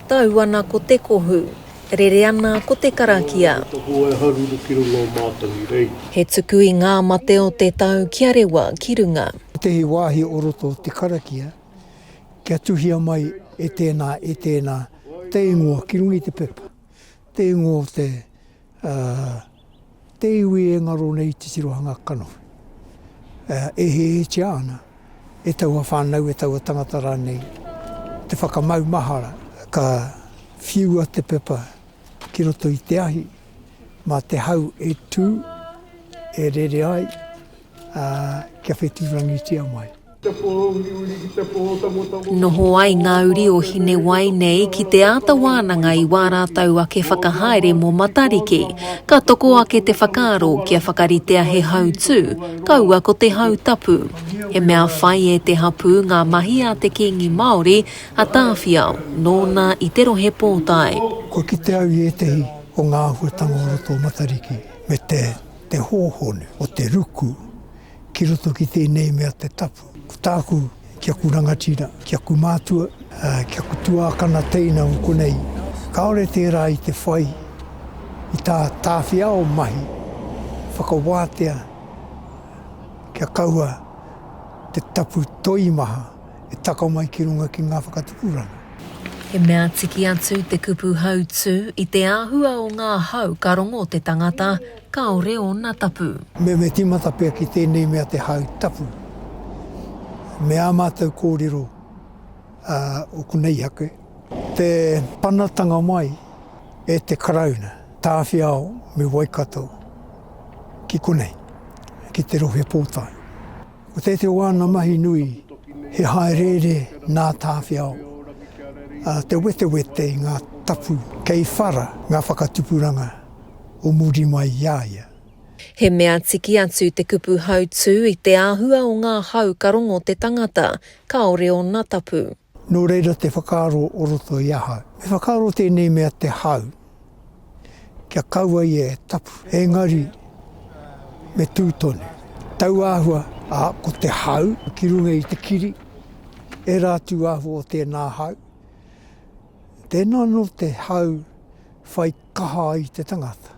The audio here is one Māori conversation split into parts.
Tau ana ko te kohu. Rere ana ko te karakia. Ko te hoa e haruru ki runga o mātou i reira. He tuku i ngā mate o te tau kia rewa ki runga. Ētehi wāhi o roto o te karakia kia tuhia mai e tēnā, e tēnā te ingoa ki runga i te pepa, te ingoa o te A, te iwi e ngaro nei te tirohanga kanohi, e ēhehetia ana e taua whānau, e taua tangata rānei, te whakamaumahara. Ka whiua te pepa ki roto i te ahi, mā te hau e tū, e rere ai. ā, kia whetūrangitia mai. Te pō uriuri ki te pō tangotangō. Noho ai ngā uri o Hinewai nei ki te āta wānanga i wā rātou ake whakahaere mō Matariki. Ka toko ake te whakaaro kia whakaritea he hautū, kaua ko te hau tapu. He mea whai e te hapū ngā mahi a te Kīngi Māori, a Tāwhiao, nōna i te Rohe Pōtae. Kua kite au i ētehi o ngā āhuatanga o roto o Matariki, me te. te hōhonu o te ruku ki roto ki tēnei mea te tapu. Ko tāku ki aku rangatira, ki aku mātua, ki aku tuākana teina o konei, kāore tērā i te whai i tā tāwhiao mahi whakawātea kia kaua te tapu toimaha E takao mai ki runga ki ngā whakatupuranga. He mea tiki atu te kupu hautū i te āhua o ngā hau ka rongo te tangata kāore ōna tapu. Me me tīmata pea ki tēnei mea te hau tapu. Me ā mātou kōrero a o Kuneihake. Te panatanga mai e te Karauna, Tāwhiao me Waikato ki konei, ki te Rohe Pōtae. Ko tētehi o āna mahi nui he hāereere nā Tāwhiao, ā, te wetewete i ngā tapu kei whara ngā whakatupuranga o muri mai i a ia. He mea tiki atu te kupu hautū i te āhua o ngā hau ka rongo te tangata, kāore ōna tapu. Nō reira te whakaaro o roto i ahau. Me whakaaro tēnei mea te hau, kia kaua ia e tapu, engari me tū tonu. Tauāhua, ā, ko te hau ki runga i te kiri, ērā tūāhua o tēnā hau. Tēnā anō te hau whai. Kaha ai te tangata.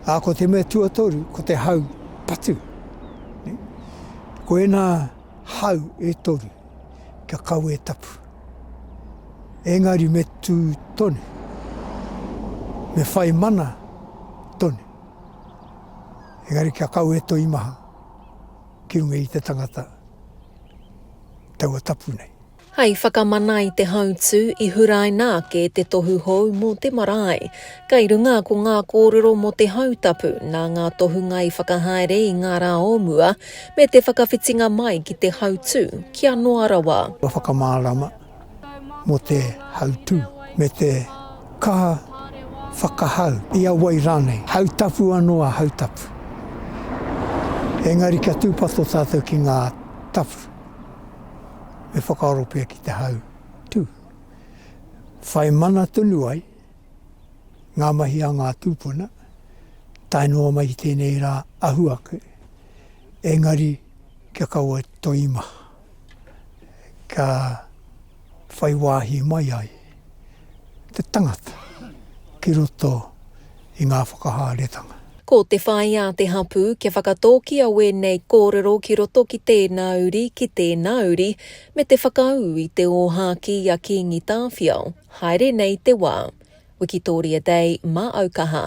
Ā, ko te mea tuatoru, ko te hau patu. Ko ēnā hau e toru, kia kau e tapu. Engari me tū tonu, me whai mana tonu. Engari kia kau e toi maha ki runga i te tangata taua tapu nei. Hei whakamana i te hautū, i huraina ake te tohu hou mō te marae. Kei runga ko ngā kōrero mō te hautapu nā ngā tohunga i whakahaere i ngā rā o mua, me te whakawhitinga mai ki te hautū kia noa rawa. Kua whakamārama mō te hautū me te kaha whakahau i a wai rānei. Hautapu anō a hautapu, engari kia tūpato tātou ki ngā tapu. e whakaaro pea ki te hau tū. Whai mana tonu ai ngā mahi a ngā tūpuna, tae noa mai ki tēnei rā ahu ake, engari kia kaua toi maha. Ka. whai wāhi mai ai te tangata ki roto i ngā whakahaeretanga. Ko te whai a te hapū kia whakatōkia wēnei kōrero ki roto ki tēnā uri, ki tēnā uri, me te whakaū i te ōhākī a Kīngi Tāwhiao, haere nei te wā. Wikitoria Day mā au kaha.